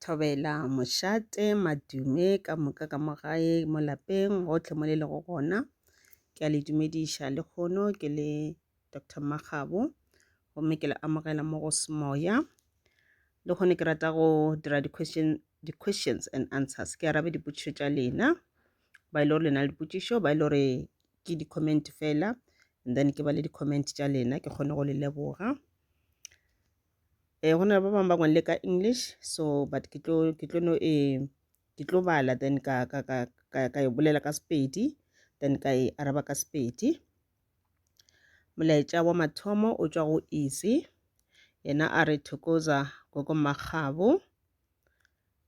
Thobela, Mošate, Madume ka moka ka mo gae mo lapeng gotlhe mo le lego gona. Ke a le dumediša le kgono ke le Doctor Makgabo gomme ke le amogela mo go semoya. Le kgone ke rata go dira di-question di-questions and answers ke arabe dipotšišo tša lena ba e le gore le na le dipotšišo ba e le gore ke di-comment fela and then ke ba le di-comment tša lena ke kgone go le leboga. eh go na le ba bangwe ba ngwale ka english so but ke tlo ke tlo no e ke tlo bala then ka ka ka ka ka e bolela ka sepedi then ka e araba ka sepedi molaetša wa mathomo o tšwa go easy yena a re thokoza gogo makgabo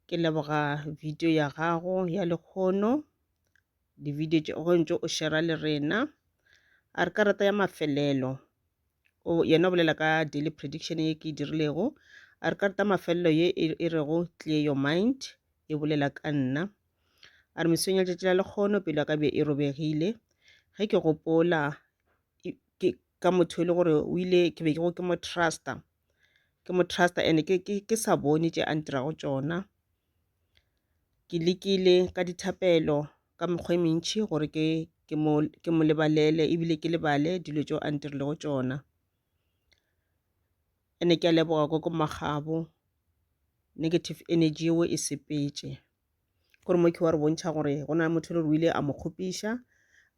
ke leboga video ya gago ya lekgono di-video tše go ntse o shera le rena a re karata ya mafelelo o yena o bolela ka daily prediction ye ke e dirilego a re karata mafelelo ye e, e rego clear your mind e bolela ka nna a re mesong ya letšatši la lekgono pelo ya ka be e robegile ge ke gopola ke ka motho e le gore o ile ke be ke go ke mo trusta ke mo trusta and ke, ke, ke sa bone tše a ntirago tšona Ke lekile ka dithapelo ka mekgwa e mentši gore ke ke mo ke mo lebalele ebile ke lebale dilo tšeo a ntirilego tšona. And-e ke a leboga gogo Makgabo, negative energy yeo e sepetše. Ke gore Morky wa re bontšha gore go na le motho e le gore o ile a mo kgopiša,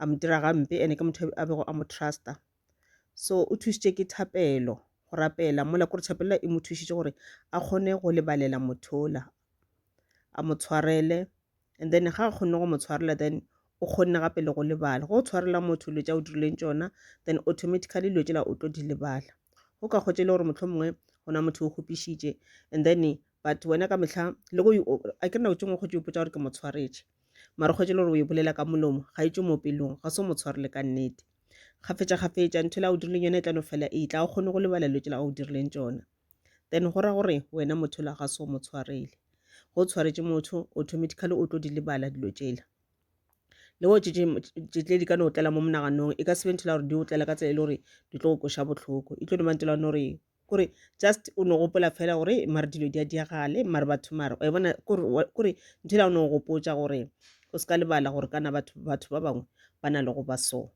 a mo dira gampe and-e ke motho a bego a mo trust-a. so o thušitše ke thapelo go rapela mola kore tšhapelela e mo thušitše gore a kgone go lebalela mothola a mo tshwarele and then ga a kgonne go mo tshwarela then o kgonne gape le go lebala go tshwarela motho dilo tša o dirileng tšona then automatically dilo tšela o tlo di lebala go ka kgotse e le gore motlho mongwe go na motho o kgopišitše and then but wena ka mehla le go a ke nako tšengwe kgotse o ipotsa gore ke mo tshwaretše mara kgotse e le gore o e bolela ka molomo ga e tšwe mo pelong ga se o mo tshwarele ka nnete kgafetša kgafetša ntho la o dirileng yona e tla no fela e tla o kgone go lebala dilo tšela o dirileng tšona then go ra gore wena motho la ga se o mo tshwarele go tshwaretše motho automatically o tlo di lebala dilo tšela le go tšetle di ka no tlela mo monaganong e ka sebe ntho la gore di o tlela ka tsela e le gore di tlo go koša botlhoko e tlo no ba ntho la gore kore just o no gopola fela gore mare dilo di a diagale mare batho mare wa e bona kore ntho ela o no gopotsa gore o se ka lebala gore kana batho batho ba bangwe ba na le go ba so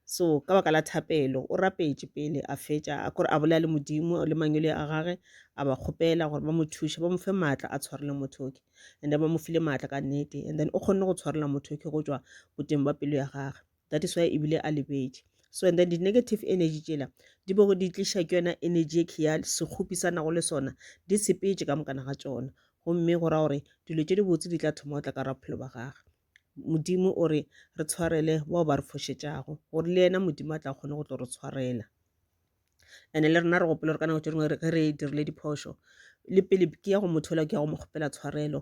so ka baka la thapelo o rapetše pele a fetša kore a bolela le modimo le mangwele a gage a ba kgopela gore ba mo thuše ba mo fe maatla a tshwarele mothoki and then ba mo file maatla ka nnete and then o kgonne go tshwarela mothoki go tšwa boteng ba pelo ya gage that is why e bile a lebetše so and then di negative energy tšela di bego di tliša ke yona energy e kheya sekgopi sa nago le sona di sepetše ka mokana ga tsona gomme go ra gore dilo tše di botse di tla thoma go tla ka ra bophelo ba gage modimo o re re tshwarele bao ba re fošetšago gore le yena modimo a tla kgone go tlo re tshwarela ene le rena re gopole gore ka nako tše dingwe ge re dirile diphošo le pele ke ya go motho ola ke ya go mo kgopela tshwarelo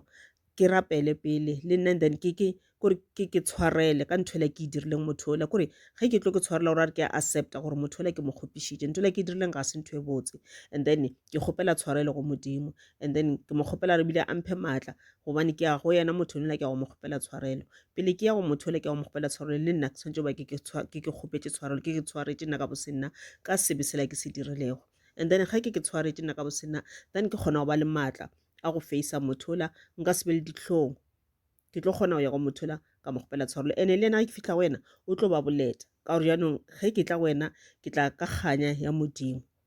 ke rapele pele le nna then ke ke kore ke ke tshwarele ka ntho ele ke e dirileng motho ola kore ge ke tlo ke tshwarela gore a re ke accepta gore motho ola ke mo kgopišitše ntho ele ke e dirileng ga se ntho e botse and then ke kgopela tshwarelo go modimo and then ke mo kgopela re bile a mphe maatla gobane ke ya go yena motho yola ke ya go mo kgopela tshwarelo pele ke ya go motho yola ke ya go mo kgopela tshwarelo le nna ke tshwanetse ba ke ke kgopetše tshwarelo ke ke tshwaretše nna ka bosenna ka sebe sela ke se dirilego and then ga ke ke tshwaretše nna ka bosenna then ke kgona go ba le maatla a go faisa motho yola nka sebe le ditlhong ke tlo kgona go ya go motho yola ka mo kgopela tshwarelo ene le yena ga ke fitlha go wena o tlo ba boleta ka gore jaanong ge ke tla go wena ke tla ka kganya ya modimo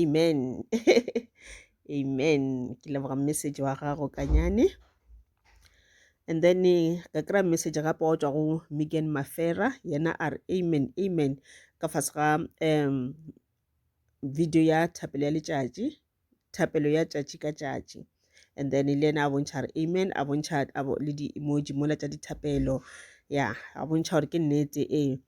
amen amen ke leboga message wa gago kanyane and then eh, ka kry-a message gape wa tswa go migan mafera yena a re amen amen ka fase ga um video ya thapelo ya letšatši thapelo ya tšatši ka tšatši and then le ena a bontšha re amen a bontšha le di-emoji mola tša dithapelo ya a bontšha gore ke nnete ee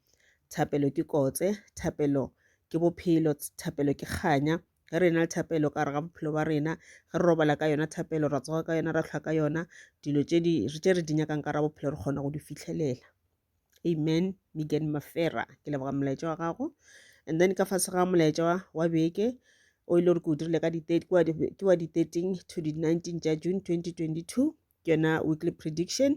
thapelo ke kotse thapelo ke bophelo thapelo ke kganya ge re na le thapelo ka gare ga bophelo ba rena ge re robala ka yona thapelo ra tsoga ka yona ra tlhwa ka yona dilo tše re di nyakang ka ra bophelo re kgona go di fitlhelela amen megan mafera ke leboga molaetša wa gago and then ka fase ga molaetša wa beke o ile gore ke o dirile ka ke wa di-13 to di-19 tša june 2022 ke yona weekly prediction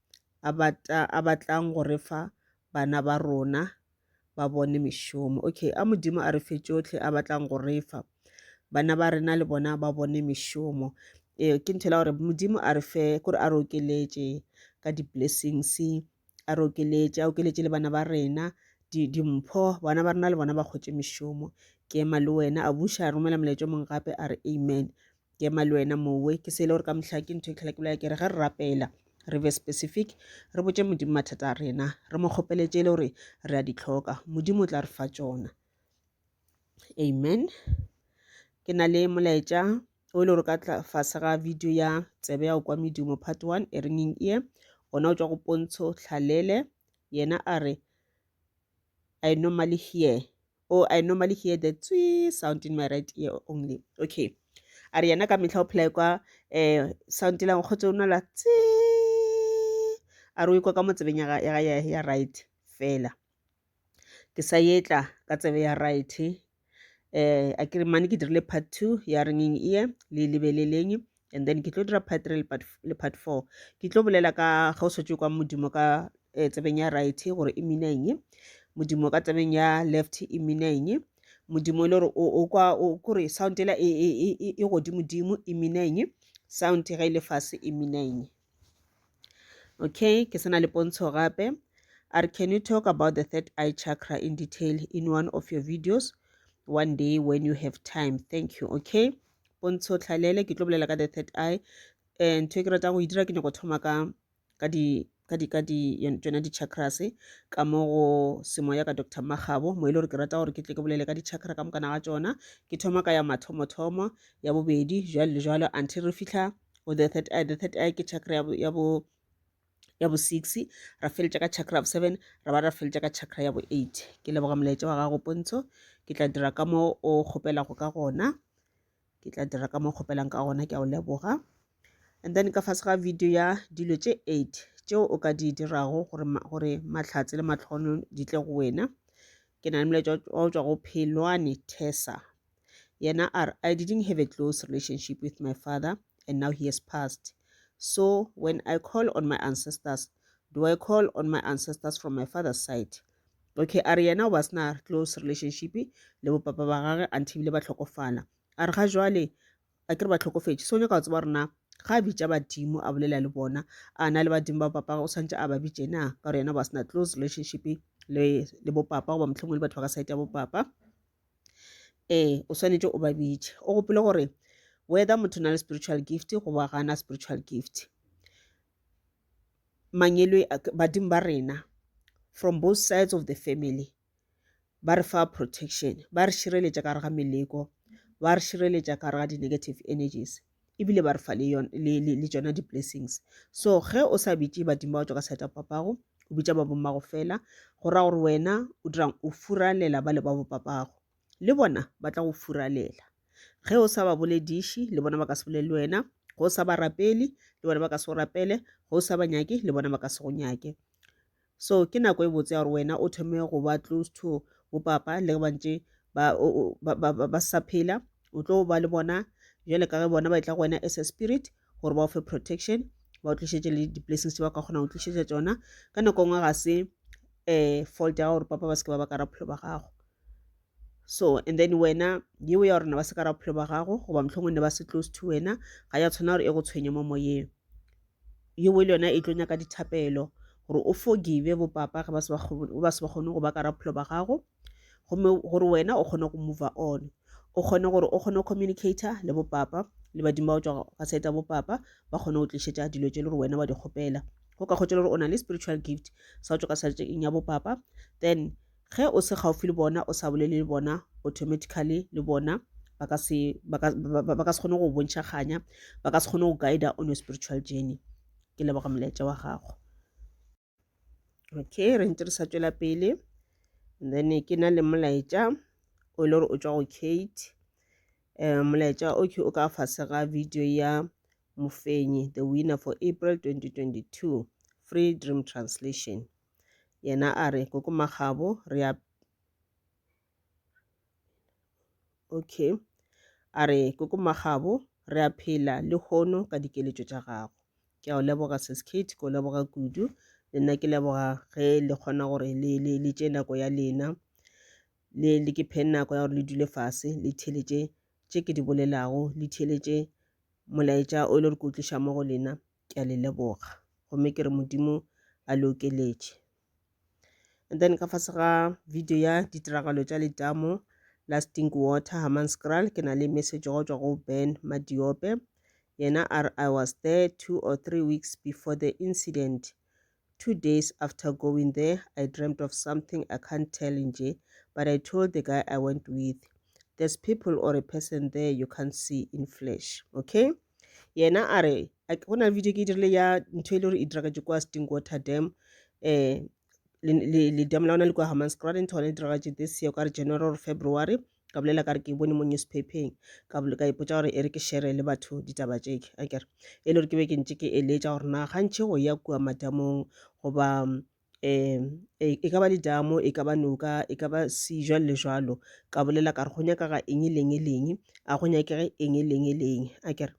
a batla a batlang go re fa bana ba rona ba bone mešomo okay a modimo a re fe tšohle a batlang go re fa bana ba rena le bona ba bone mešomo ee ke nthela gore modimo a re fe kore a re okeletše ka di-blessings a re okeletše a okeletše le bana ba rena dimpho bana ba rena le bona ba kgwetše mešomo ke ema le wena a buša a romela molaetša mongwe gape a re amen ke ema le wena mowe ke sele gore ka mohla ke ntho e tlhola ke bolela ke re ge re rapela re be specific re botse modimo mathata a rena re mo kgopeletse le gore re a di tlhoka modimo o tla re fa tsona amen ke na le molaetša o e le gore ka fase ga video ya tsebe ya go kwa medumo part one e ringing ear ona o tswa go pontsho tlhalele yena a re i normally hear Oh, I normally hear the tswee sound in my right ear only. Okay. A re yena ka mehla o phela kwa eh sound la nkgotse o nwela tswee. A re o ikwa ka mo tsebeng ya ga- ya ga- ya ya right fela. Ke sa etla ka tsebe ya right. Eh a ke re mane ke dirile part 2 ya ringing ear le lebeleleng and then ke tlo dira part three le part four ke tlo bolela ka ga o setse kwa modimo ka eh, tsebeng ya right gore e mina eng modimo ka tsebeng ya left e mina eng modimo e le gore o kwa kore sound ela e, e, e, e godimodimo e mina eng sound ga e le fase e mina eng Okay, ke sena le pontsho gape. A re, can you talk about the third eye chakra in detail in one of your videos one day when you have time? Thank you. Okay, pontsho tlhalele, ke tlo bolela ka the third eye. Eh, ntho e ke ratang go e dira ke nyako thoma ka ka di ka di ka di tsona di-chakras ka mo go semoya ka dr magabo mo e le gore ke rata gore ke tle ke bolele ka di-chakra ka mokana ga tsona ke thoma ka ya mathomothomo ya bobedi jalo le jalo until re fitlha go the third eye the third eye ke chakra ya bo ya bo ya bo six ra feletša ka chakra ya bo seven ra ba ra feletša ka chakra ya bo eight ke leboga molaetša wa gago pontsho ke tla dira ka mo o kgopelago ka gona ke tla dira ka mo kgopelang ka gona ke a o leboga and then ka fase ga video ya dilo tše eight tšeo o ka di dirago gore gore mahlatse le matlhono di tle go wena ke na le molaetša wa go tšwa go phelwane tesa yena a re i didn't have a close relationship with my father and now he has passed so when i call on my ancestors do i call on my ancestors from my father's side okay a re yena o ba sena close relationship le bopapa ba gage until bile ba tlhokofala a re ga jwale a ke re ba tlhokofetše so nyaka go tseba rona ga a bitša badimo a bolela le bona a na le badimo ba bopapa o tshwanetse a ba bitše na ka gore yena o ba sena close relationship le bopapa goba motlhomong le batho ba ka site ya bopapa ee o swanetše o ba bitše o gopile gore whether motho na le spiritual gift goba gana spiritual gift mangelo badimo ba rena from both sides of the family ba re fa protection ba re šireletša ka re ga meleko ba re šireletša ka re ga di-negative energies ebile ba re fa le, yon, le, le, le tšona di-blessings so ge o sa bitše badimo ba tšwa ka seta papago o bitša ba bommago fela go ra gore wena o dirang o furalela ba le ba bopapago le bona ba tla go furalela ge o sa ba bolediše le bona ba ka se bolele wena ge o sa ba rapele le bona ba ka se go rapele ge o sa ba nyake le bona ba ka se go nyake So, ke nako e botse ya gore wena o thome go ba close to bopapa le ge ba ntše ba, ba, ba, ba, ba sa phela o tlo ba le bona jale ka ge bona ba e tla go wena as a spirit gore ba o fe protection ba o tlišetse le di-blessings tse ba ka kgonang go tlišetša tsona ka nako nngwe ga se um fault ya gago gore papa ba se ke ba ba ka raphelo ba gago so and then wena yeo ya gorena ba se ka raphelo ba gago goba mohlongwe ne ba se close to wena ga ya tshwana gore e go tshwenye mo moyeng Yeo le yona e tlo nyaka dithapelo, gore o forgive bo papa ge ba se ba kgone go ba ka raphelo ba gago, gomme gore wena o kgone go mover on, o kgone gore o kgone go communicator le bo papa, le badimo ba go tšwa ga side ya bo papa, ba kgone go tlišetša dilo tše le gore wena wa di kgopela. Go ka kgotša le gore o na le spiritual gift sa go tšwa ka side ya bo papa, then Ge o se kgauffi le bona, o sa bolele le bona, automatically le bona ba ka se, ba ka, ba, ba ka se kgone go go bontšha kganya, ba ka se kgone go guider on your spiritual journey. Ke leboga molaetša wa gago. Okay, re ntse re sa tšwela pele. And then ke na le molaetša o e le gore o tšwa go Kate. Um, molaetša o ke o ka fase ga video ya Mofenyi, the winner for April 2022, Free Dream Translation. Yena a re, Koko Makgabo, re a Okay. A re, Koko Makgabo, re a phela le hono ka dikeletšo tša gago. Ke a o leboga Sis Kate, ke o leboga kudu. Le nna ke leboga ge le kgona gore le, le, le tše nako ya lena. Le, le ke phe nako ya gore le dule fase, le theletše tše ke di bolelago, le theletše molaetša o e le gore ke o tliša mo go lena. ke a le leboga gomme ke re modimo a le okeletše and then ka fase ga video ya ditiragalo tša letamo lasting water hamanscral ke na le message go tšwa go ben madiope yena a re i was there two or three weeks before the incident Two days after going there I dreamt of something I can't tell nje but I told the guy I went with there's people or a person there you can't see in flesh okay yena a re go na le video ke e dirile ya ntho e le gore e diragatše kwa stingwater dam um le dam la ona le kwa hammanskraal ntho gone e diragatše this year ka re january or february ka bolela ka re ke bone mo newspapeng ka bolo ka ipotsa gore e re ke shere le batho ditaba tše a kere e le gore ke be ke ntse ke eletša gore na gantšhe go ya kua madamong goba um e ka ba ledamo e ka ba noka e ka ba sejwa le jalo ka bolela ka re go nyaka ga eng e leng e leng a go nyakege eng e leng e leng a kere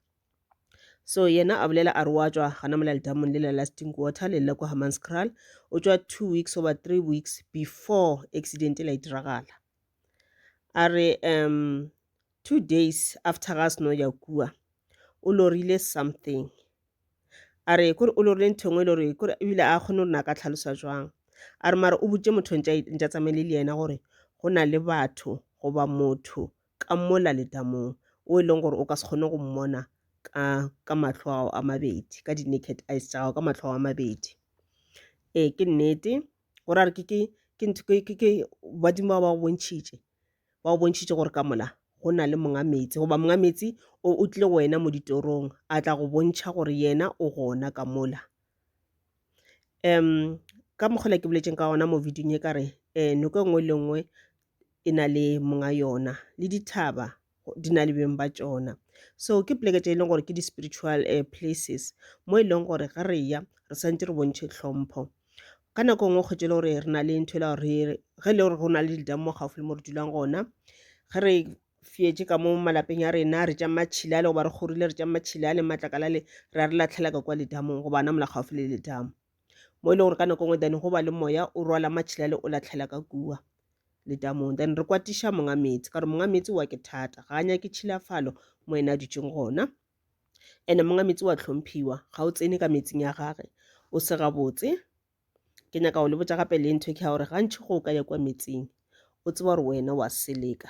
so yena a bolela a re wa tswa gana mola ledamong le la lasting water le la kwa hamanscral o tswa two weeks over three weeks before accident e la e diragala A re um two days after ga a seno ya kua o lorile something. A re kore o lorile ntho engwe e le gore kore ebile a kgone gore na ka tlhalosa jwang. A re mara o botse motho ntša ntša tsamaile le yena gore go na le batho goba motho ka mola letamong o e leng gore o ka se kgone go mmona ka ka mahlo ao a mabedi ka di-naked eyes tša gago ka mahlo ao a mabedi. Ee ke nnete. o ra re ke ke ke ntho ke ke badimo ba ba go bontšhitše ba go bontšhitše gore ka mola go na le monga metsi goba monga metsi o o tlile go wena mo ditorong a tla go bontšha gore yena o gona ka mola um ka mokgola ke boletseng ka gona mo videong e ka re um noko e nngwe le nngwe e na le monga yona le dithaba di na le beng ba tšona so ke poleke tše e leng gore ke di-spiritual uh, places mo e leng gore ga re ya re santse re bontšhe tlhompho ka nako nngwe kgwetse le gore re na le ntho e le gore ge e le gore go na le didamo mo gaufi le mo re dulang gona ge re fietse ka mo malapeng ya rena re tša matšhila le goba re kgorile re tša matšhila le matlakala le ra re latlhelaka kwa ledamong goba na mola gaufi le ledamo mo e le gore ka nako ngwe then go ba le moya o rwala matšhilale o latlhela ka kua letamong then re kwatiša monga meetse ka gore monga meetse wa ke thata ga a nyake tšhilafalo mo ena a dutšeng gona ene monga meetse wa tlhomphiwa ga o tsene ka metsing ya gage o se gabotse ke nyaka go le botsa gape le ntho ke ga gore gantšhi go o ka ya kwa metsing o tseba gore wena wa seleka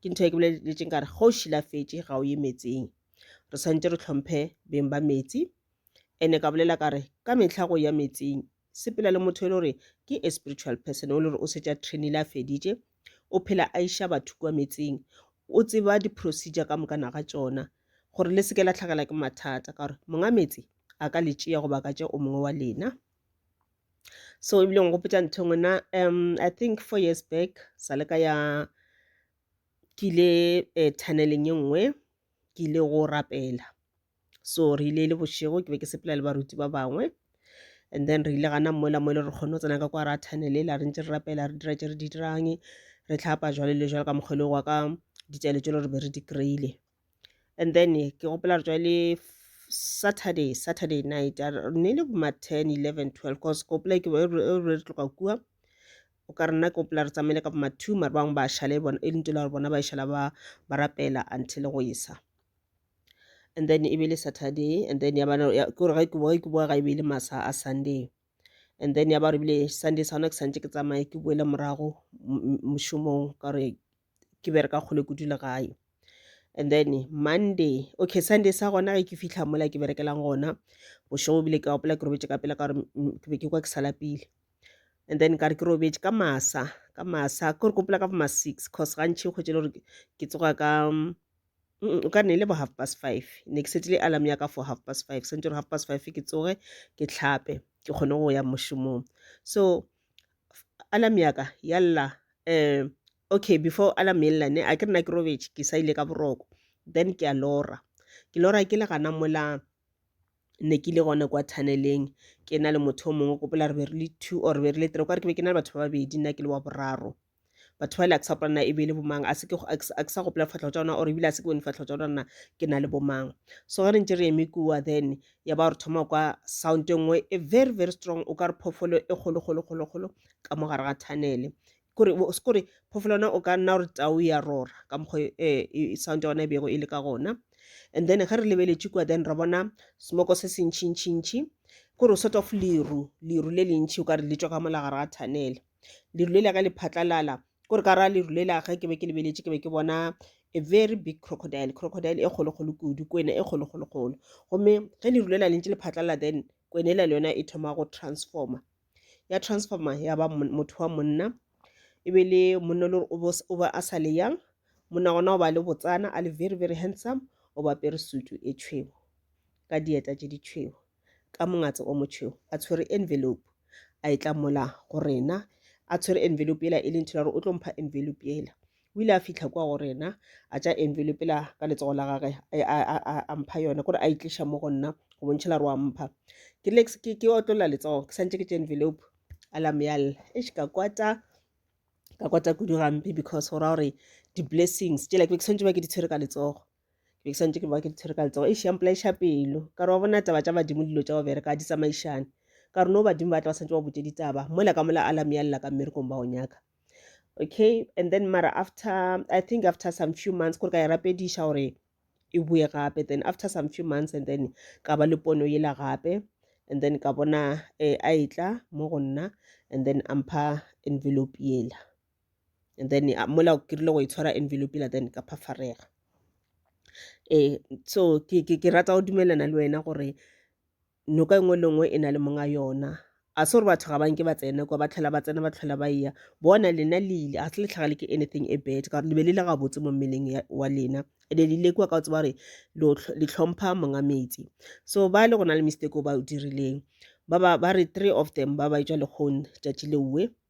ke ntho e ke boleletšeng ka re ga o šilafetše ga o ye metseng re tshwanetse re tlhomphe beng ba metsi ene ka bolela ka re ka mehla go ya metsing sepela le motho e le gore ke a spiritual person o le gore o setša trainile a feditše o phela a iša batho kwa metsing o tseba di-procedure ka moka naga tšona gore le seke la tlhakela ke mathata ka gore monga metse a ka le tšea goba ka tšea o mongwe wa lena so ebile go gopetsa ntho engwe na um i think four years back sa le ka ya ke ile eh, tunneleng e nngwe ke ile go rapela so re ile e le bošego ke be ke sepela le baruti ba bangwe and then re ile gana mola mo e le re kgone go tsena ka kwa ra tunnel la re ntse re rapela re dira tse re di dirang re tlhapa jwale le jwale ka mokgwa e le wa ka ditsele tse le re be re di kry-ile and then ke gopola re tswale saturday saturday night ne le boma ten eleven twelve cause ke gopola ke re tloga kua o ka rena ke gopola re tsamaile ka boma two mare bangwe ba šale e le ntela gore bona ba šala ba ba rapela until go isa and then e be le saturday and then ya bana ke gore ge ke boe ke boa ga e be le masa a sunday and then ya ba re bile sunday sa gona ke santse ke tsamaye ke boele morago mošomong ka gore ke bereka kgole kudu le gae and then monday okay sunday sa gona ge ke fitlha mola ke berekelang gona bošego bile ke gopola ke robetše ka pela ka gore ke be ke kwa ke sa lapile and then ka re ke robetše ka masa ka masa ke re gopola ka boma six cause gantšhi o kgwetse le gore ke tsoga ka o ka ne e le bo half past five ne ke setile alarm ya ka for half past five sentse gore half past five ke tsoge ke tlhape ke kgone go ya mošomong so alarm ya ka ya lla um okay before alarm e lla ne a ke nna ke robetše ke sa ile ka boroko then ke a lora ke lora ke le gana mola ne ke le gona kwa tunnel-eng ke na le motho o mongwe gopola re be re le two or re be re le three okare ke be ke na le batho ba babedi nna ke le wa boraro. batho ba le a ke sa gopola na e be e le bomang a se ke a ke sa gopola difatlhego tša ona or ebile a se ke bone difatlhego tša ona ke na le bomang so ge re ntse re eme kua then ya ba re thoma kwa sound e nngwe e very very strong o ka re phoofolo e kgolo kgolo kgolo kgolo ka mo gare ga tunnel kore kore phoofolo yona o ka nna gore tau ya rora ka mokgwa eh, e, e, sound ya ona e bego e le ka gona and then ge re lebeletše kua then ra bona smoko se sentšhintšhintšhi kore o sort of leru leru le lentšhi o ka re le tswa ka molagare ga tunnel lerule la ka le phatlalala kore ka ra lerule la ge ke be ke lebeletše ke be ke bona a very big crocodile crocodile e kgolokgolo kudu kwena e kgolokgolokgolo gomme ge lerule la lentše le phatlalala then kwena e la le yona e thoma go transforma ya transforma ya ba motho wa monna e be le monna le gore o ba a sa le yang monna gona o ba le botsana a le very very handsome o ba pere sutu e tšhwego ka dieta tše di tšhwego ka mongatse o motšheu a tshwere envelope a e tla mola go rena a tshwere envelope yela e lentho la gore o tlo mpha envelope yela o ile a fitlha kwa go rena a tša envelope la ka letsogo la gage a mpha yone kore a itliša mo go nna go bontšha la re wa mpha ke lex ke otlolla letsogo ke santse ke tša envelope a la meyalela e ka kwata ka kwata kudu gampe because go ra gore di-blessings tšela ke be ke swantse ba ke di tshwere ka letsogo ke be ke santse ke ba ke di tshwere ka letsogo eish ya mpolaeša pelo ka re wa bona taba tša badimo dilo tša go bereka ga di tsamaišane ka re no badimo ba tla ba santse ba botse ditaba mola ka mola alarm ya lela ka mmerekong ba go nyaka okay and then mara after i think after some few months kore ka e rapediša gore e boe gape then after some few months and then ka ba le pono yela gape and then ka bona eh, a etla mo go nna and then ampha envelope yela and then uh, mola o kirile go itshwara envelope la then ka phafarega ee so ke, ke, ke rata go dumelana le wena gore noka engwe le ngwe e na le monga yona a se gore batho ga ba nke ba tsene kwa ba tlhola ba tsena ba tlhola ba eya bona lena le ile ga se le tlhagale ke anything e bad ka gore le be le le gabotse mo mmeleng wa lena ene le ile kua ka o tseba gore le tlhompha monga metsi so ba le go na le mistake o ba o dirileng ba ba ba re three of them ba ba etswa lekgone tšatši leue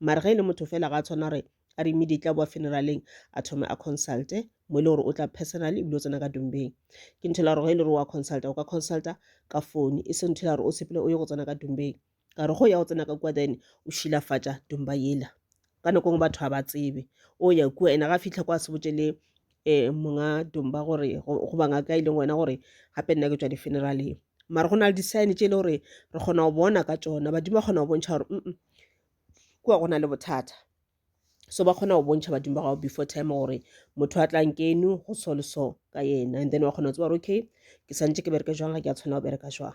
mare ge e le motho fela ga a tshwana gore a re immediately a boa funeraleng a thome a consulte mo e le gore o tla personally ebile o tsena ka dumbeng ke ntho e la gore ge e le gore wa consulta o ka consulta ka phone e se ntho e la gore o sepele o ye go tsena ka dumbeng ka re go ya go tsena ka kua then o šilafatša dumba yela ka nako ngwe batho ga ba tsebe o ya kua ene ga fitlha kwa se botse le eh, monga domba gore goba ngaka e leng wena gore gape nna ke tswa di-funeraleng mara go na le di-sign tše e le gore re kgona go bona ka tsona badimo ba kgona go bontšha gore mm kua go na le bothata so ba kgona go bontšha badimo ba gago before time gore motho a tlang keno go so le so ka yena and then wa kgona go tseba gore okay ke santse ke bereke jwang ga ke a tshwana go bereka jwang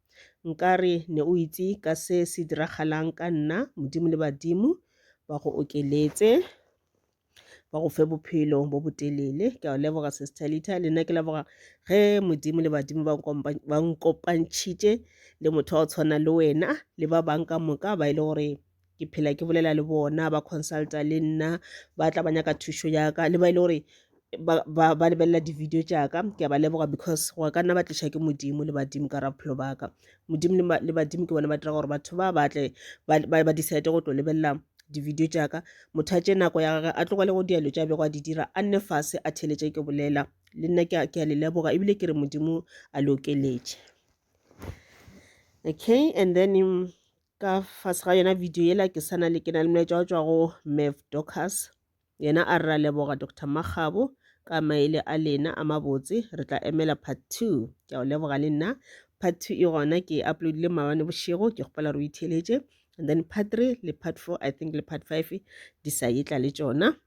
Nkare ne o itse ka se se diragalang ka nna, Modimo le badimo ba go okeletse ba go fe bophelo bo botelele ke a o leboga sestalita le nna ke leboga ge modimo le badimo ba nkopantšhitše le motho wa go tshwana le wena le ba bangwe ka moka ba e le gore ke phela ke bolela le bona ba consulta le nna ba tla ba nyaka thušo yaka le ba e le gore ba lebelela di-video tšaka ke a ba leboga because go ka nna ba tliša ke modimo le badimo ka raphelo baka modimo le badimo ke bona ba dira gore batho ba batle ba decide go tlo lebelela di-video tšaka motho a tše nako ya gage a tlogele go dialo tša bego a di dira a nne fase a theletše ke bolela le nna ke a le leboga ebile ke re modimo a le okeletše okay and then um, ka fase ga yona video yela ke sana le ke na le molaetša wa tšwa go mev docas yena a re ra leboga dr makgabo ka maele a lena a mabotse re tla emela part two ke a o leboga le nna part two e gona ke e uploadile maabane bošego ke kgopela re o itheletše and then part three le part four i think le part five di sa etla le tšona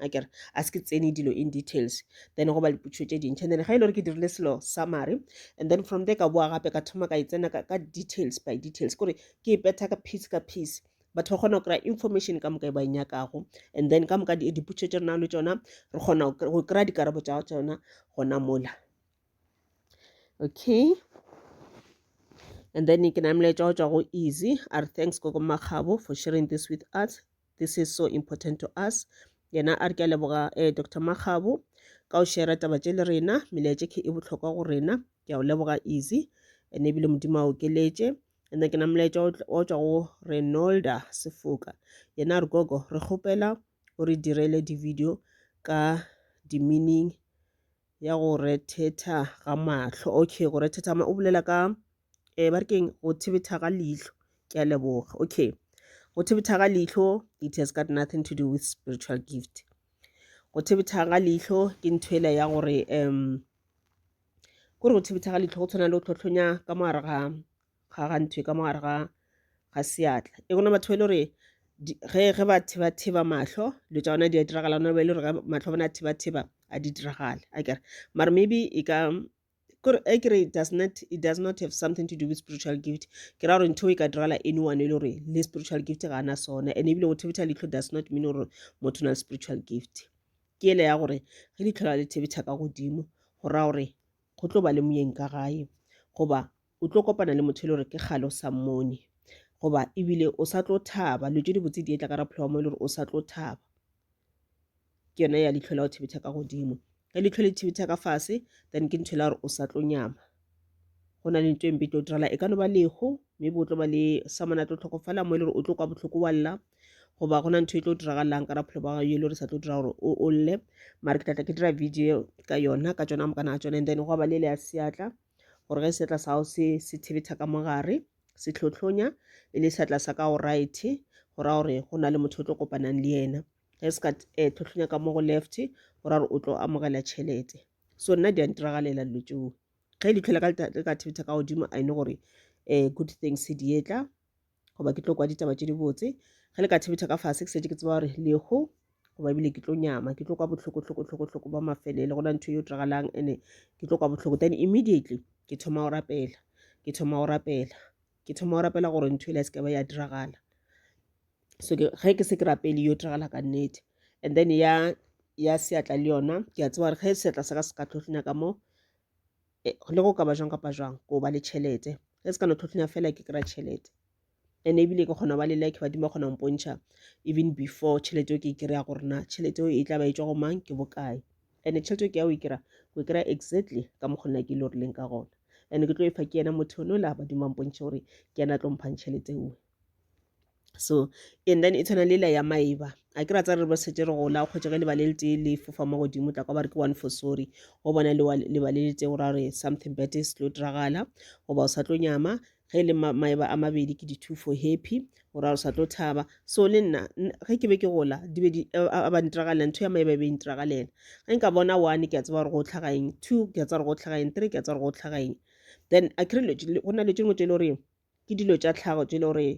a kere a se ke tsene dilo in details then go ba lipotšišo tše dintšha then ga e le gore ke dirile selo summary and then from there ka boa gape ka thoma ka e tsena ka details by details kore ke e petha ka piece ka piece batho ba kgona go kry-a information ka moka e ba e nyakago and then ka moka dipotšišo tše re nang le tsona re kgona go kry-a dikarabo tša tsona gona mola okay and then ke na molaetša wa tswa go easy a re thanks koko makgabo for sharing this with us this is so important to us yena a re ke a leboga eh, dr makgabo ka o shera taba tše le rena melaetše ke e bohlokwa go rena ke a o leboga easy and ebile modimo a okeletše and then ke na molaetša o tšwa go renolda sefoka yena re gogo re kgopela o re direle di-video ka di-meaning ya go rethetha ga mahlo okay go rethetha o bolela ka eh, ba re keng go thibetha ga leihlo ke a leboga okay go thibetha ga leihlo it has got nothing to do with spiritual gift go thibetha ga leihlo ke ntho ela ya gore um kore go thibetha ga leihlo go tshwana le go tlhotlhonya ka mogare ga ga ntho e ka mogare ga ga seatla e gona batho ba e le gore ge ge ba thiba thiba mahlo dilo tša bona di a diragala gona ba e le gore mahlo bona thiba thiba a di diragale a kere mara maybe e ka kore e kere it does not it does not have something to do with spiritual gift ke ra gore ntho e ka dirala anyone e le gore le spiritual gift ga ana sona and ebile go thebetha leitlho does not mean gore motho o na le spiritual gift ke ele ya gore ge leitlho la le thebetha ka godimo go raya gore go tlo ba le moyeng ka gae goba o tlo kopana le motho e le gore ke kgale o sa mmone goba ebile o sa tlo thaba lo tse dibotse di etla ka rapholo wa mo e le gore o sa tlo thaba ke yone ya litlho la go thibetha ka godimo ge litlho le thibetha ka fase then ke ntho e la gore o sa tlo nyama go na le ntho e mpe tlo dirala e ka no ba leho mme bo tlo ba le samona tlo tlhokofala mo e le gore o tlo kwa botlhoko wa lla goba go na ntho e tlo diragalang ka rapholo ba gayo e le gore sa tlo dira gore o lle mare ke tlatla ke dira video ka yona ka tsona mokana ga tsone and then go ba le le ya seatla gore ge seatla sa gago se se thebetha ka mogare se tlhotlhonya e le seatla sa ka go right go ra gore go na le motho o tlo kopanang le yena ge se ka eh, tlhotlhonya ka mo go left go ra gore o tlo amogela tšhelete so nna di a ntiragalela dilo tšeo ge e le tlhola ka thebetha ka godimo a ine gore um good things di etla goba ke tlo kwa ditaba tše dibotse ge le ka thebetha ka fase ke setse ke tseba gore lehu goba ebile ke tlo nyama ke tlo kwa bohloko-hloko-hloko-hloko ba mafelele go na ntho yo diragalang ene ke tlo kwa bohloko then immediately ke thoma go rapela ke thoma go rapela ke thoma go rapela gore ntho ele ya sekaba ya diragala so ge ke se ke rapele yo diragala ka nnete and then ya ya seatla le yona ke a tseba gore ge seatla sa ka se ka tlhotlhonya ka moo e, le go ka ba jwang kapa jwang ko ba le tšhelete ge se ka no tlhotlhonya fela ke kry-a tšhelete and ebile ke kgona go ba le like badimo ba kgona go mpontšha even before tšhelete eo ke e kry-a gore na tšhelete eo e tla ba e tswa go mang ke bokae and tšhelete eo ke ya o e kry-a o e kry-a exactly ka mokgwa nna ke ile e gorileng ka gona and ke tlo e fa ke yena motho one o la badimo ba mpontšhe gore ke yena a tlo mphang tšhelete eo so and then e tshwana le la ya maiba a ke ra tsa re ba setse re gola kgotsa ge lebale le tee le fofa mo godimo tla kwa ba re ke one for sorry go bona lebale le tse gora re something bad is tlo diragala goba o sa tlo nyama ge e le maeba a mabedi ke di-two for happy gora o sa tlo thaba so le nna ge ke be ke gola di be di a ba ntiragalela ntho ya maeba e be e ntiragalela ge nka bona one ke a tseba gore go tlhaga eng two ke a tseba gore go tlhaga eng three ke a tseba gore go tlhaga eng then a kry go na le tšengwe tse e le goreng ke dilo tša tlhago tše e le gore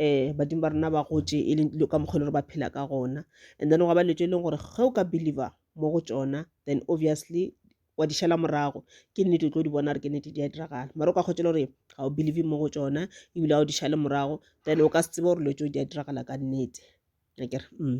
um badimo ba rena ba gotše e leng dilo ka mokgwa e le gore ba phela ka gona and then gwa ba dilo tše e leng gore ge o ka believer mo go tšona then obviously wa di šala morago ke nnete o tlo di bona gore ke nnete di a diragala mara o ka kgotse e le gore ga o believe mo go tšona ebile ga o di šale morago then o ka se tsebe gore dilo tšeo di a diragala ka nnete akere mm.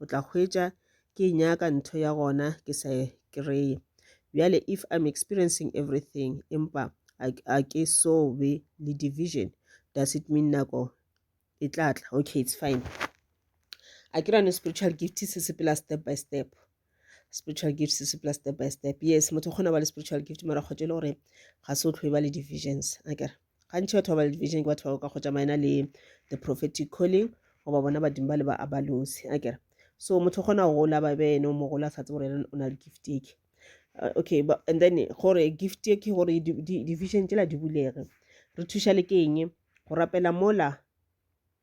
o tla hwetša ke e nyaka ntho ya gona ke sa e kry-e bjale if i'm experiencing everything empa a ke so be le division does it mean nako e tla tla okay it's fine a ke rane spiritual gift se sepela step by step spiritual gift se sepela step by step yes motho o kgona ba le spiritual gift mara kgotse e le gore ga se o tlhoe ba le divisions a kere Gantši batho ba ba le division ke batho ba go ka kgotša maena le the prophetic calling goba bona badimo ba le ba abalosi a kere so motho o kgona go gola ba be ene o mogolo a sa tse gore ene o na le gift eke uh, okay but, and then gore gift e ke gore division tsela di bulege re thuša le ke eng go rapela mola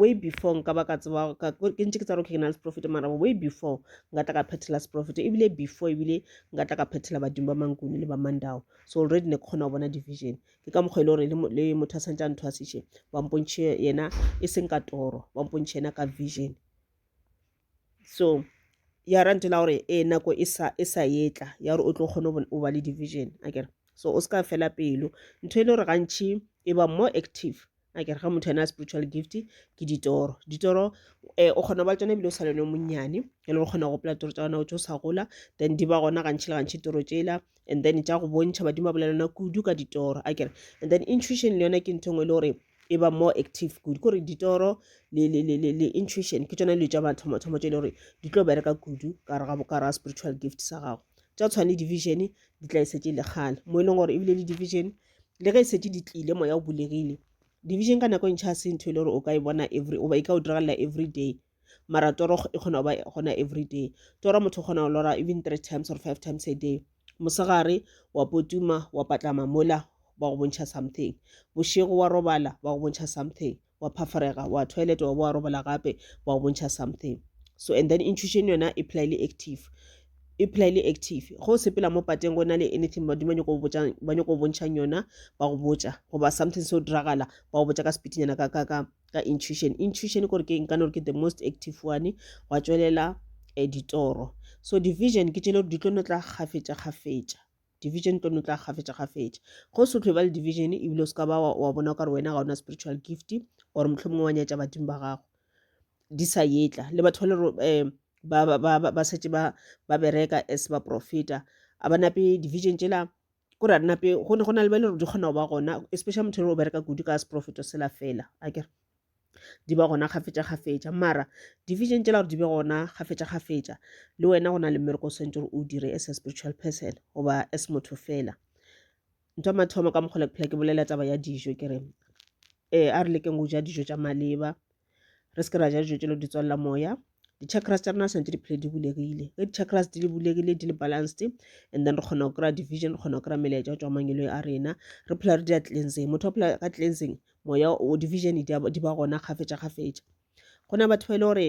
way before nka ba ka tseba ke ntse ke tsa gore ke na le seprofeta mara way before nka tla ka phethela seprofeta ebile before ebile nka tla ka phethela badimo ba mankuni le ba mandao so already ne ke kgona go bona division ke ka mokgwa e le gore le motho a santse a nthwasiše ba mpontšhe yena e seng ka toro ba mpontšhe yena ka vision so ya ra ntela gore e nako e sa e sa etla ya gore o tlo kgone o ba le division a kere so o se ka fela pelo ntho e le gore gantšhi e ba more active a kere ga motho ena a spiritual gift ke ditoro ditoro um o kgona go ba tsone ebile o sa lone monnyane e le go kgona go gopola toro tsa gona o tse o sa gola then di ba gona gantšhi le gantšhi toro tsela and then tša go bontšha badimo ba bolelana kudu ka ditoro a kere and then intuition le yone ke ntho e nngwe e le gore e ba more active kudu kore ditoro le, le, le, le, le intuition ke tsona dilo tša mathomathomo tše e le gore di tlo bereka kudu ka re ga bokara ga spiritual gift sa gago tša tshwane division di tla e setse le kgale mo e leng gore ebile le division le ge e setse di tlile moya o bulegile division ka nako e ntšha se ntho e le gore o ka e bona every oba e ka o diragalela every day mara toro e kgona go ba gona every day toro motho o kgona go lora even three times or five times a day mosegare wa potuma wa patlama mola ba go bontšha something bošego wa robala ba go bontšha something wa phafarega wa toilet wa bo wa robala gape ba go bontšha something so and then intuition yona e phela e le active e phela e le active go o sepela mo pateng go na le anything badimo ba nyako go bontšhang yona ba go botša goba something se o diragala ba go botša ka sepitinyana ka ka ka ka intuition intuition gore ke nka no ke the most active one gwa tswelela eh, ditoro so division ke tšele gore di tlo no tla kgafetša kgafetša division tlo no tla kgafetša kgafetša go se tlhwe ba le division ebile o se ka ba wa bona o ka re wena ga ona spiritual gift or motlho mongwe wa nyatša badimo ba gago di sa yetla le batho ba le um ba setse ba bereka as baprofeta a ba nape division tšela ko ra nna pe go ne go na le ba e le gore di kgona go ba gona especially motho e le o bereka kudu ka seprofeto sela fela a kere di ba gona kgafetša kgafetša mara division tšela gore di be gona kgafetša kgafetša le wena go na le mmereko o swantse gore o dire as a spiritual person goba as motho fela ntho ya mathomo ka mokgole ke phela ke bolela taba ya dijo ke re um a re lekeng go ja dijo tša maleba re se ke ra ja dijo tšelo di tswalela moya di-chakras tša rena santse di phele di bulegile ge di-chakras di le bulegile di le balanced and then re kgona go kry-a division re kgona go kry-a melaetša go tswa mangelo a rena re phela re di a cleanseng motho wa phela ka cleanseng moya o division di ba gona kgafetša kgafetša go na batho ba e le gore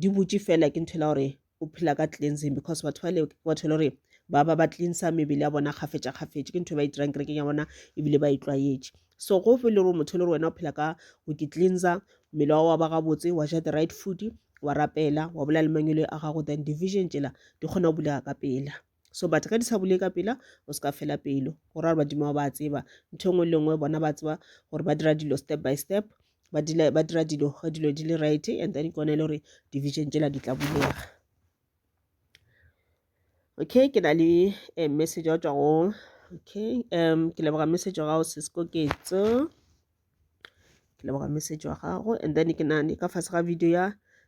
di butše fela ke nthwela gore o phela ka cleansing because batho ba le batho e le gore ba ba ba cleansa mebele ya bona kgafetša kgafetše ke ntho e ba e dirang kerekeng ya bona ebile ba e tlwaetše so go fe le gore motho e le gore wena o phela ka go ke cleansa mmele wa wa ba gabotse wa ja the right food wa rapela wa bolela le mangwele a gago then division tšela di kgona go bulega ka pela so but ge di sa bule ka pela o se ka fela pelo go ra gore badimo ba tseba ntho e nngwe le nngwe bona ba tseba gore ba dira dilo step by step ba dira dilo ge dilo di le right and then kone e le gore division tsela di tla bulega okay ke na le um message wa tswa go okay um ke leboga message wa gago sesekoketso ke leboga message wa gago and then ke nane ka fase ga video ya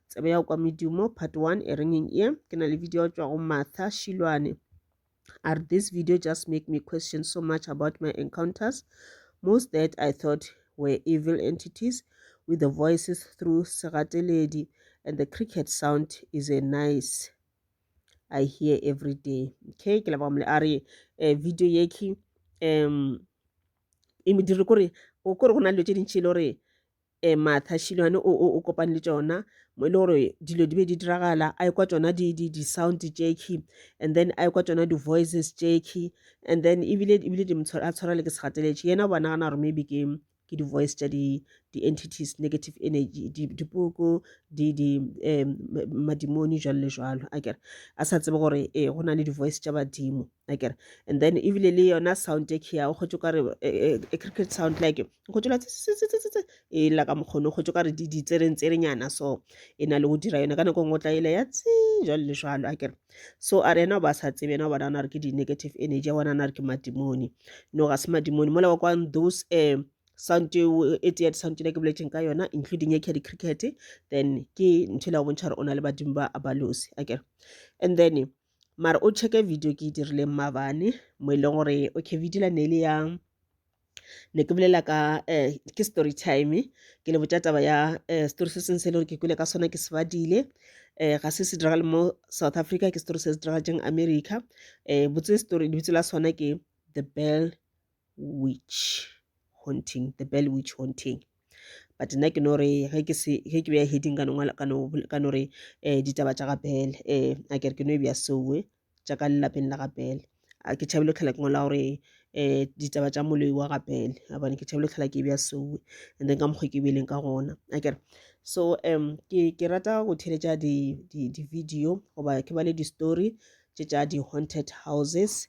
tsebe ya kwa medumo part one e rengeng e ke na le video tswa go martha shilwane a re this video just make me question so much about my encounters most that i thought were evil entities with the voices through segateledi and the cricket sound is a nice i hear every day okay ke leboga mole a re eh, video yeki um e modiri kore o kore go na dilo tše dintši e le gore um matha shilwane o, o, o kopane le tšona mo e le gore dilo di be di diragala a ekwa tšona di-sound di, di jacki and then a ekwa tšona di-voices jacki and then ebile ebile di a tshwara le ke segateletše yena o ba nagana gore maybe ke ke di-voice tša di-entities di negative energy dipoko di, di, um madimoni jalo le jalo a kere a sa tsebe gore e go na le di-voice tša badimo akere and then ebile le yona sound e kea o kgotse kare e e, e, e cricket sound like o kgotse la e la ka mokgono o kgotse kare di di tsereng tserenyana so e na le go dira yona ka nako ngwe tla ile ya tsi jalo le jalo akere so a re ena ba sa tsebe ena bona na re ke di negative energy bona na re ke madimoni no ga se madimoni mola wa kwa those um sound eo e tee sound le ke boletseng ka yona including e kedi cricket then ke ntho e la go bontšha gore o na le badimo ba abalosi akere and then mara o checke video ke e dirileng mabane mo e leng gore okay video la ne le ya ne ke bolela ka um ke story time ke le botša taba ya um story se sengwe se e le gore ke kwele ka sona ke se badile um ga se se diragale mo south africa ke story se se diragatšeng america um botse story lebitso la sona ke the bell witch haunting the bell witch haunting but nna ke no re ge ke se ge ke beya heading ka nongwala ka no ka no re eh ditaba tša ga bell eh a kere ke no e beya soe eh, tša ka lelapeng la ga bell a ke tšhabile tlhola ke ngola gore eh ditaba tša moloi wa ga bell a bone ke tšhabile tlhola ke e beya soe and then ka mokgwa ke beileng ka gona a kere so um ke ke rata go theletša di di di video goba ke bale di story tše tša di haunted houses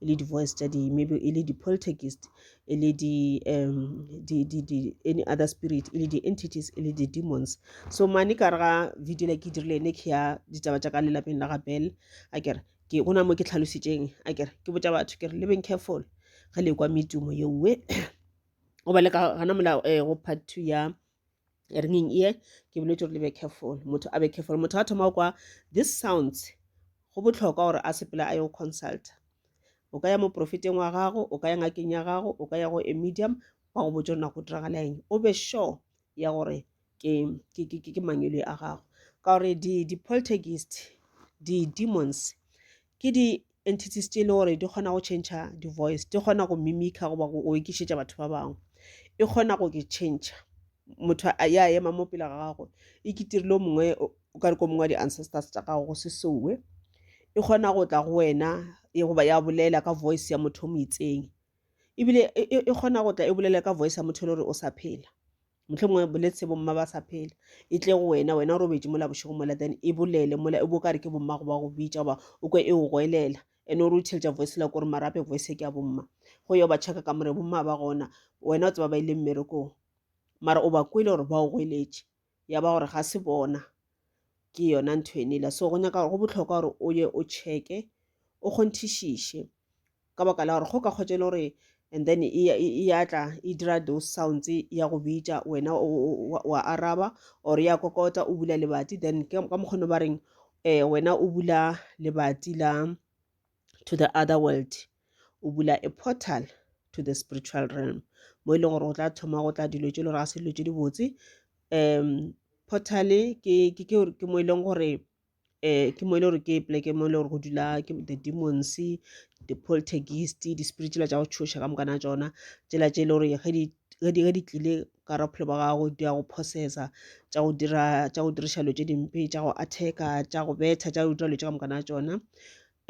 e le di-voice tša di maybe e le di-poltergist e le di um di di di any other spirit e le di-entities e le di-demons so mane ka re ga video le ke e dirile ene ke ya ditaba tša ka lelapeng la ga bell a kere ke go na mo ke tlhalositseng a kere ke botša batho ke re living careful ge le kwa medumo yeowe goba le ka gana mola um go part two ya ringing ear ke boletse gore le be careful motho a be careful motho a thoma kwa this sounds go botlhokwa gore a sepela a yo consulta o ka ya moprofeteng wa gago o ka ya ngakeng ya gago o ka ya go a medium ba go botsa nako diragala eng o be sure ya gore ke mangwele a gago ka gore di-poltergeist di-demons ke di entities tše e le gore di kgona go change di voice di kgona go mimica goba go okišetša batho ba bangwe e kgona go ke change motho ya ema mo pele ga gago e ketirile o mongwe o ka re ko mongwe wa di-ancestors tša gago go se sewe e kgona go tla go wena e goba ya bolela ka voice ya motho o mo itseng ebile e, e, e kgona go tla e bolela ka voice ya motho e le gore o sa phela mohlomongwe boletse bomma ba sa phela e tle go wena wena o robetše mola bošego mola then e bolele mola e bo ka re ke bomma go ba go bitša goba o kwe e o goelela and o re o theletša voice la kore marape voice ke ya bomma go yo ba checka ka more bomma ba gona wena o tseba ba ile mmerekong mara o ba kwele gore ba o goeletše ya ba gore ga se bona ke yona ntho enela so go nyaka gore go botlhokwa gore o ye o checke o kgonthišiše ka baka la gore go ka kgotsa e le gore and then e, e, e ya tla e dira those sounds ya go bitša wena wa araba or ya kokota o bula lebati then ka mokgono ba reng um wena o bula lebati la to the other world o bula a portal to the spiritual realm mo e leng gore o tla thoma go tla dilo tse le gore ga se dilo tse dibotse um portal ke mo e leng gore um ke mo e le gore ke poleke mo e le gore go dula ke the demons di-poltergeist di-spirit tsela tša go tšhoša ka mokana tšona tsela tše e le gore ge di ge di ge di tlile ka ra bophelo ba gago di ya go processa tša go dira tša go diriša dilo tše dimpe tša go attacka tša go betha tša go dira dilo tše ka moka na tšona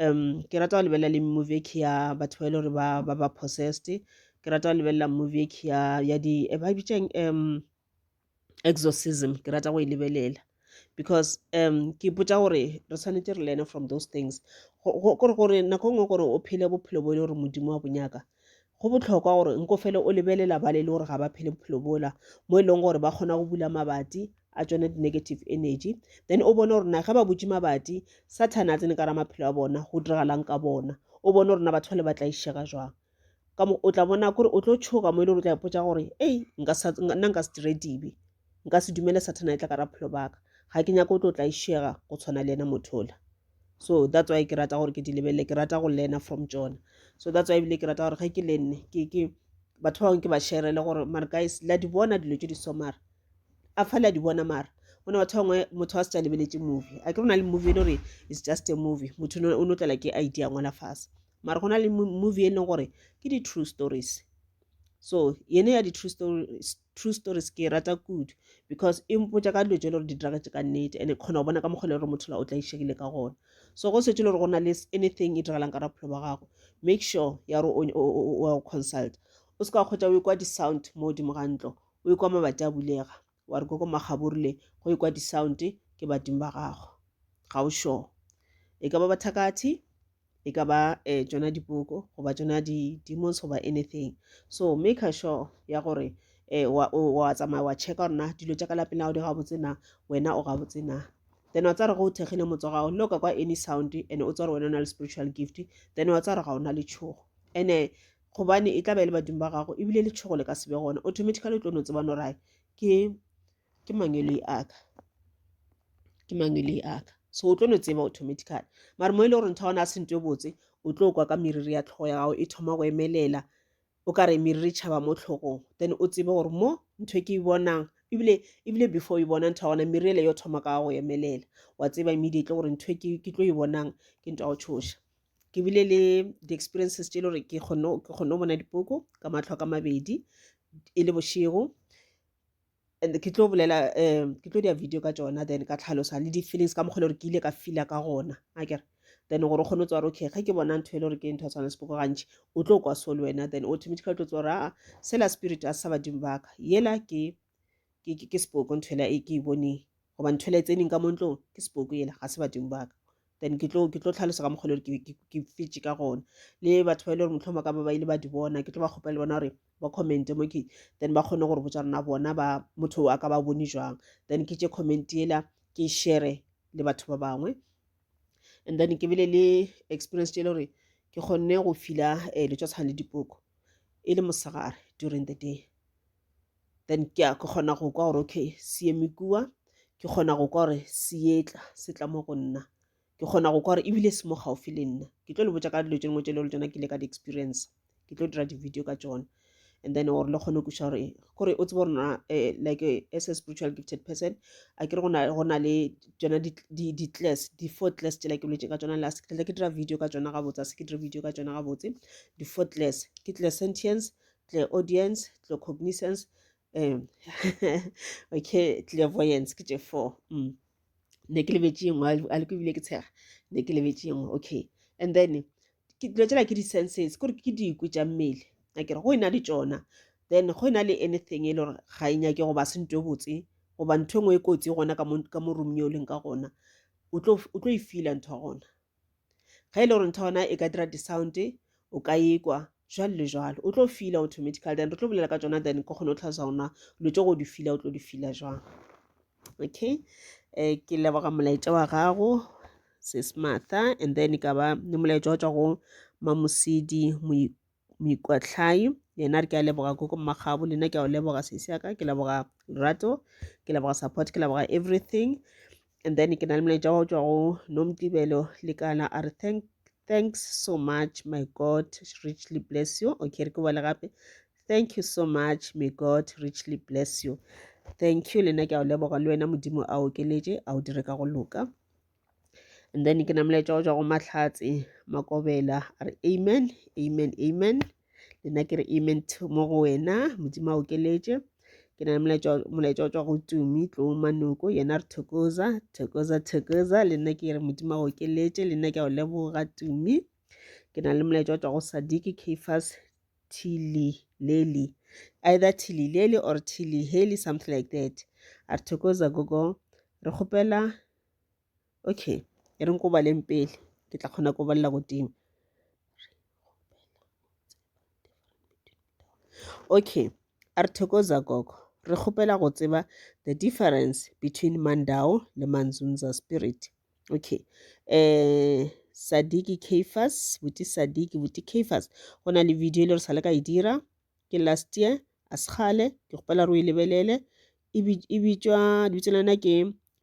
um ke rata go lebelela le movie ke ya batho ba e le gore ba ba ba possessed ke rata go lebelela movie ke ya ya di e ba e bitsang um exorcism ke rata go e lebelela because um ke ipotsa gore re tshwanetse re learne from those things gore gore nako nngwe gore o phele bophelo bo e le gore modimo wa bonyaka go botlhokwa gore nko fele o lebelela ba le le gore ga ba phele bophelo bola mo e leng gore ba kgona go bula mabati a tsone di-negative energy then o bone gore na ge ba butse mabati sathane a tsene ka ra maphelo a bona go diragalang ka bona o bone gore na batho ba le ba tla išega jwang ka mo o tla bona kore o tlo tšhoga mo e le gore o tla ipotsa gore ei nka sa nna nka se dire dibe nka se dumele sathana e tla ka ra phelo baka ga ke nyako o tlo tla išega go tshwana le ena motho ola so that's why ke rata gore ke di lebelele ke rata go learna from tsona so that's why ebile ke rata gore ge ke le nne ke ke batho ba bangwe ke ba sherele gore mare guys la di bona dilo tse di so mara a fa la di bona mara o ne batho bangwe motho wa se tsa lebeletse movie a ke rona le movie e le gore it's just a movie motho o no tlala ke idea ngwala fase mara go na le movie e leng gore ke di-true stories so yene ya di-true stories, true stories ke e rata kudu because e mpotsa ka dilo tse le gore di diragetse ka nnete and e kgona go bona ka mokgwa le gore motho la o tla išegile ka gona so go setse le gore go na le anything e diragalang ka raphelo ba gago make sure ya gore o consult o se ka kgotsa o e kwa di-sound mo godimo ga ntlo o e kwa mabati a bulega Wa re koko magaburu le go ekwa di sound ke badimo ba gago ga o sure e ka ba bathakathi e ka ba eh tsona dipoko goba tsona di demons goba anything so make sure ya gore eh wa wa tsamaya wa check gore na dilo tša ka lapeng la di ga botse na wena o ga botse na then wa tsara go o thekgile motse wa gago le o ka kwa any sound and o tsara wena o na le spiritual gift then wa tsara ga ona le tshogo ene gobane e tla ba e le badimo ba gago ebile letšhogo le ka se be gona automatically o tlo no tseba no rae ke ke mangweloi aka ke mangweloi aka so o tlo no tseba automatically mara mo e le gore ntho gona a se nto e botse o tlo kwa ka meriri ya tlhogo ya gago e thoma go emelela o ka re meriri tšhaba mo tlhogong then o tsebe gore mo ntho e ke e bonang ebile ebile before e bona ntho ya gona meriri ele yo thoma ka go emelela wa tseba immediately gore ntho e ke tlo e bonang ke ntho ya go tshoša ke bile le di-experiences tše e le gore ke kgone go bona dipoko ka matlho ka mabedi e le bošego and ke tlo bolela um ke tlo dia video ka tsona then ka tlhalosa le di-feelings ka mokgwa le gore ke ile ka feela ka gona a kere then gore o kgone go tswara okay ge ke bona ntho e le gore ke ntho ya tshwana sepoko gantši o tlo kwa so le wena then automatically o tlo tswara a sela spirit a sa badimo baka yela ke ke ke ke sepoko nthwela e ke e bone goba nthwela e tsening ka mo ntlong ke sepoko yela ga se badimo ba ka then ke tlo ke tlo tlhalosa ka mokgwa le gore ke- ke- ke fetše ka gona le batho ba e le gore motlhoma ka ba ba ile ba di bona ke tlo ba kgopela le bona gore ba commente mo ke then ba kgone gore botsa rona bona ba motho a ka ba bone jwang then ke tše comment yela ke e shere le batho ba bangwe and then ke bile le experience tše e le gore ke kgonne go fila um letšotshwane le dipoko e le mosegare during the day then ke a ke kgona go kwa gore okay se eme kua ke kgona go kwa gore se etla se tla mo go nna ke kgona go kwa gore ebile se mo gaufi le nna ke tlo le botsa ka dilo tse dingwe tse le tsona ke ile ka di-experience ke tlo dira di-video ka tsona and then gore le kgone go kuša gore gore o tsebe rona eh, like eh, as a spiritual gifted person a ke re go na le tsona di-class di-four class tsela ke boletse ka tsona last ke ke dira video ka tsona gabotse a se ke dira video ka tsona gabotse di-four class ke class sentience clairaudience claircognizance um okay clairvoyance ke tše four mm. ne ke lebetše yengwe a le ko ebile ke tshega ne ke lebetše yengwe okay and then dilo tsela ke di-senses kore ke dikwe tša mmele a kere go e na le tsona then go e na le anything e le gore ga e nyake go ba sento e botse goba ntho e nngwe e kotsi gona ka mo room yo o leng ka gona o tlo e feela ntho gona ge e le gore ntho ya gona e ka dira di-sound o ka ekwa jalo le jalo o tlo fila automatical then re tlo bolela ka tsona then ko kgone o tlhalosa gona dilo tse go di fila o tlo di fila jwang okay um ke leboga molaetša wa gago sesmatha and then e ka ba le molaetša wa tswa go mamosedi moikwatlhai yena ke a leboga koko mmagabu le nna ke a o leboga sesi yaka ke leboga lerato ke leboga support ke leboga everything and then ke na le molaetša wa tswa go nomtibelo lekana a re thank thanks so much my god richly bless you okay re ke bole gape thank you so much may god richly bless you thank you le nna ke a o leboga le wena modimo a okeletše a o dire ka go loka and then ke namela tšwa go tšwa go mahlatse makobela a re amen amen amen le nna ke re amen mo go wena modimo a okeletše ke na le molaetša wa tswa go tumi tloo manoko yena re thokoza thokoza thokoza le nna ke re modimo a okeletše le nna ke a o leboga tumi ke na le molaetša wa tswa go sadiki cafas tili leli either tili leli or tili heli something like that a re thokoza gogo re kgopela okay e reng ko baleng pele ke tla kgona go balela godimo okay a re thokoza gogo re kgopela go tseba the difference between mandao le manzunza spirit okay um sadiki cafas buti sadiki buti cafas go na le video e le re sa le ka e dira Ke last year, a se kgale. Ke kgopela re o e lebelele. E, e bitšwa, lebitso la yona ke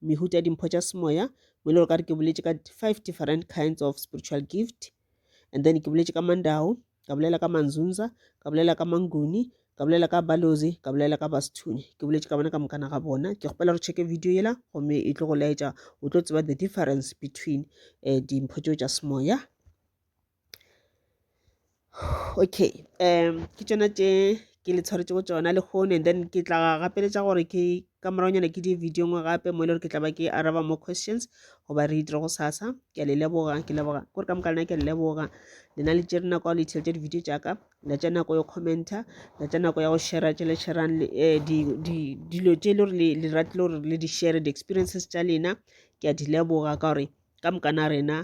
Mehuta Dimpho tša Semoya. Mo e le gore ka re ke boletše ka five different kinds of spiritual gift. And then ke boletše ka Mandao, ka bolela ka Manzunza, ka bolela ka Manguni, ka bolela ka Balozi, ka bolela ka Basithuni. Ke boletše ka bona ka mokana ga bona. Ke kgopela re checke video yela, gomme e tlo go laetša, o tlo tseba the difference between um dimpho tšeo tša semoya okay um ke tšona tše ke le tshwaretšego tšona le kgone and then ke tla gapeletša gore ke ka moragonyana ke di video ngwe gape mo e le gore ke tla ba ke araba more questions goba re itire go sasa ke a le leboga ke leboga kore ka moka lena ke a le leboga lena le tšere nako le itšheletša di-video tšaka la tša nako ya commenta la tša nako ya go shera tše le sherang eh, dilo tše e le gore le ratile gore le di-share di-experiences tša lena ke a di leboga ka gore ka moka na rena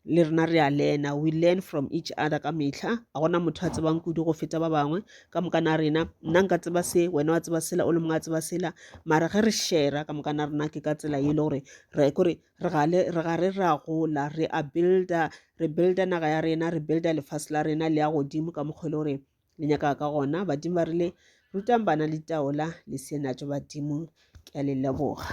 le rena re a lena we learn from each other ka mehla a gona motho a tsebang kudu go feta ba bangwe ka moka na rena nna nka tseba se wena wa tseba sela o le mongwe a tseba sela mara ge re shera ka moka na rena ke ka tsela e le gore re kore re gale re gare re a gola re a builder re builder naga ya rena re builder lefase la rena le ya godimo ka mokgwa e le gore le nyaka ka gona badimo ba rile rutang bana le taola le senatso badimo ke a le leboga